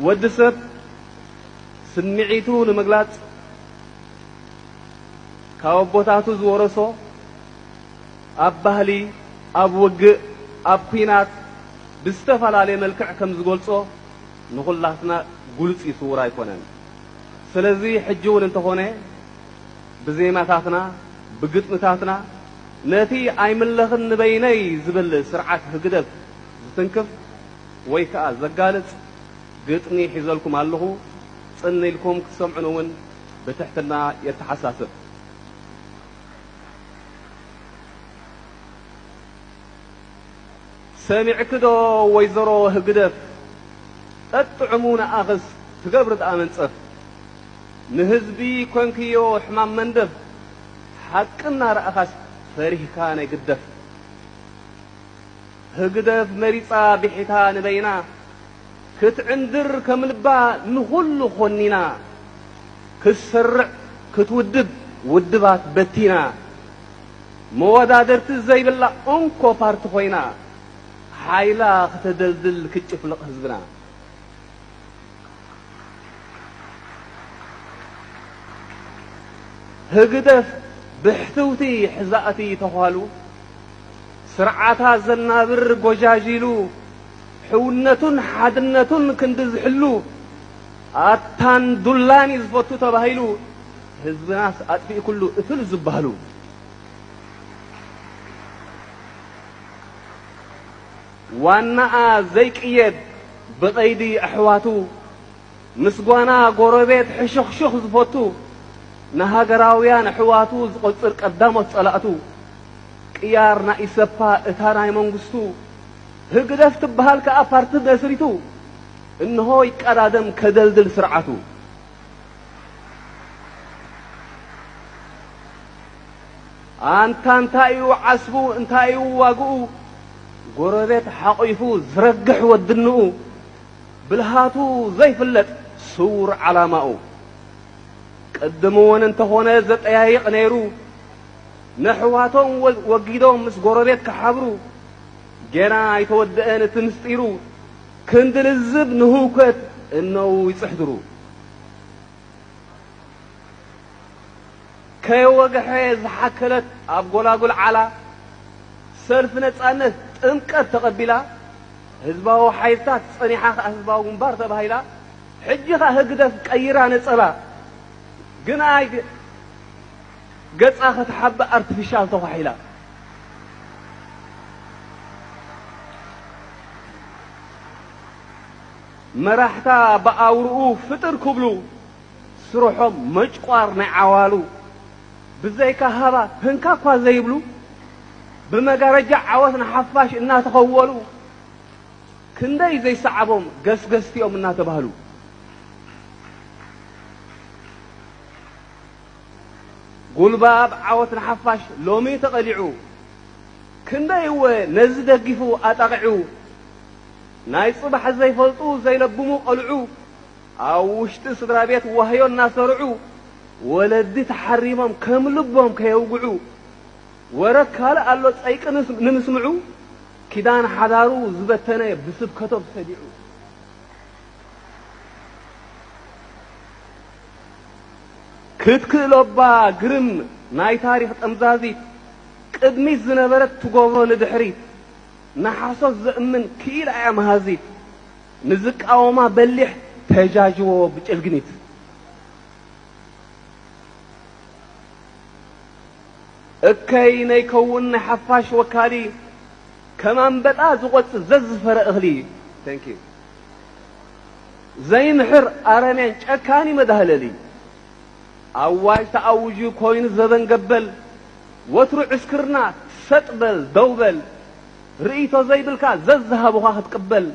ወዲ ሰብ ስምዒቱ ንምግላጽ ካብ ኣቦታቱ ዝወረሶ ኣብ ባህሊ ኣብ ውግእ ኣብ ኩናት ብዝተፈላለየ መልክዕ ከም ዝገልጾ ንኹላትና ግሉጽ እዩ ስውር ኣይኮነን ስለዚ ሕጂ እውን እንተኾነ ብዜማታትና ብግጥምታትና ነቲ ኣይምለኽን ንበይነይ ዝብል ስርዓት ህግደፍ ዝትንክፍ ወይ ከኣ ዘጋልጽ ግጥሚ ሒዘልኩም ኣለኹ፣ ጽን ኢልኩም ክትሰምዑኒ ውን ብትሕትና የተሓሳስብ። ሰሚዕኪ ዶ ወይዘሮ ህግደፍ ጠጥዑሙ ንኣኽስ ትገብሪ ድኣ መንጸፍ ንህዝቢ ኮንክዮ ሕማም መንደፍ ሓቂ እናረኣኻስ ፈሪህካ ናይ ግደፍ። ህግደፍ መሪጻ ብሒታ ንበይና ክትዕንድር ከም ልባ ንኹሉ ኮኒና ክትሰርዕ ክትውድብ ውድባት በቲና መወዳድርቲ ዘይብላ እንኮ ፓርቲ ኮይና ሓይላ ክተደልድል ክትጭፍልቕ ህዝብና ህግደፍ ብሕትውቲ ሕዛእቲ ተዃሉ ስርዓታ ዘናብር ጎጃጂሉ ሕውነቱን ሓድነቱን ክንዲ ዝሕሉ ኣታን ዱላን እዩ ዝፈቱ ተባሂሉ ህዝብናስ ኣጥፊእ ኩሉ እትሉ ዝበሃሉ ዋናኣ ዘይቅየድ ብቐይዲ ኣሕዋቱ፣ ምስ ጓና ጎረቤት ሕሹኽሹኽ ዝፈቱ፣ ንሃገራውያን ኣሕዋቱ ዝቖጽር ቀዳሞት ጸላእቱ፣ ቅያር ናይ ኢሰፓ እታ ናይ መንግስቱ፣ ህግደፍ ትብሃል ከኣ ፓርቲ መስሪቱ፣ እንሆ ይቀዳደም ከደልድል ስርዓቱ። ኣንታ እንታይ'ዩ ዓስቡ እንታይ'ዩ ዋግኡ ጎረቤት ሓቒፉ ዝረግሕ ወድንኡ ብልሃቱ ዘይፍለጥ ስዉር ዓላማኡ ቅድም'ውን እንተኾነ ዘጠያይቕ ነይሩ ነሕዋቶም ወጊዶም ምስ ጎረቤት ክሓብሩ ጌና ኣይተወድአን እቲ ምስጢሩ ክንዲ ልዝብ ንህውከት እነዉ ይጽሕድሩ ከየወግሐ ዝሓከለት ኣብ ጎላጉል ዓላ ሰልፊ ነጻነት ጥምቀት ተቐቢላ ህዝባዊ ሓይልታት ጸኒሓ ከኣ ህዝባዊ ግንባር ተባሂላ ሕጂ ከኣ ህግደፍ ቀይራ ነጸላ ግና ገጻ ከተሓብእ ኣርቲፊሻል ተዃሒላ መራሕታ ብኣውርኡ ፍጥር ክብሉ ስርሖም መጭቋር ናይ ዓዋሉ ብዘይካ ሃባ ህንካ እኳ ዘይብሉ ብመጋረጃ ዓወት ንሓፋሽ እናተኸወሉ ክንደይ ዘይሰዓቦም ገስገስቲ እዮም እናተባህሉ ጉልባብ ዓወት ንሓፋሽ ሎሚ ተቐሊዑ ክንደይ እወ ነዚ ደጊፉ ኣጣቒዑ ናይ ጽባሕ ዘይፈልጡ ዘይለብሙ ቘልዑ ኣብ ውሽጢ ስድራቤት ዋህዮ እናሰርዑ ወለዲ ተሓሪሞም ከም ልቦም ከየውግዑ ወረ ካልእ ኣሎ ጸይቂ ንምስምዑ ኪዳን ሓዳሩ ዝበተነ ብስብከቶም ሰዲዑ ክትክእሎባ ግርም ናይ ታሪኽ ጠምዛዚት ቅድሚት ዝነበረት ትጎብሮ ንድሕሪት ንሓሶት ዘእምን ክኢላ እያ መሃዚት ንዝቃወማ በሊሕ ተጃጅዎ ብጭልግኒት። እከይ ነይከውን ናይ ሓፋሽ ወካሊ ከም ኣንበጣ ዝቆጽ ዘዝፈረ እኽሊ Thank you ዘይምሕር ኣረሜን ጨካኒ መዳህለሊ ኣዋጅ ተኣውጁ ኮይኑ ዘበን ገበል ወትሩ ዕስክርና ሰጥ በል ደው በል ርእይቶ ዘይብልካ ዘዝሃቡኻ ክትቅበል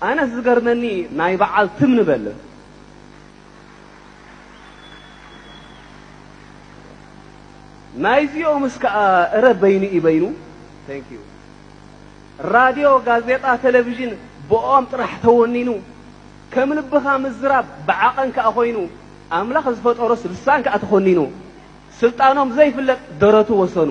ኣነስ ዝገርመኒ ናይ በዓል ትም ንበል። ናይዚኦምስ ከኣ እረ በይኑ እዩ በይኑ Thank you ራድዮ ጋዜጣ ተለቪዥን ብእኦም ጥራሕ ተወኒኑ ከም ልብኻ ምዝራብ ብዓቐን ከኣ ኮይኑ ኣምላኽ ዝፈጠሮስ ልሳን ከኣ ተኾኒኑ ስልጣኖም ዘይፍለጥ ደረቱ ወሰኑ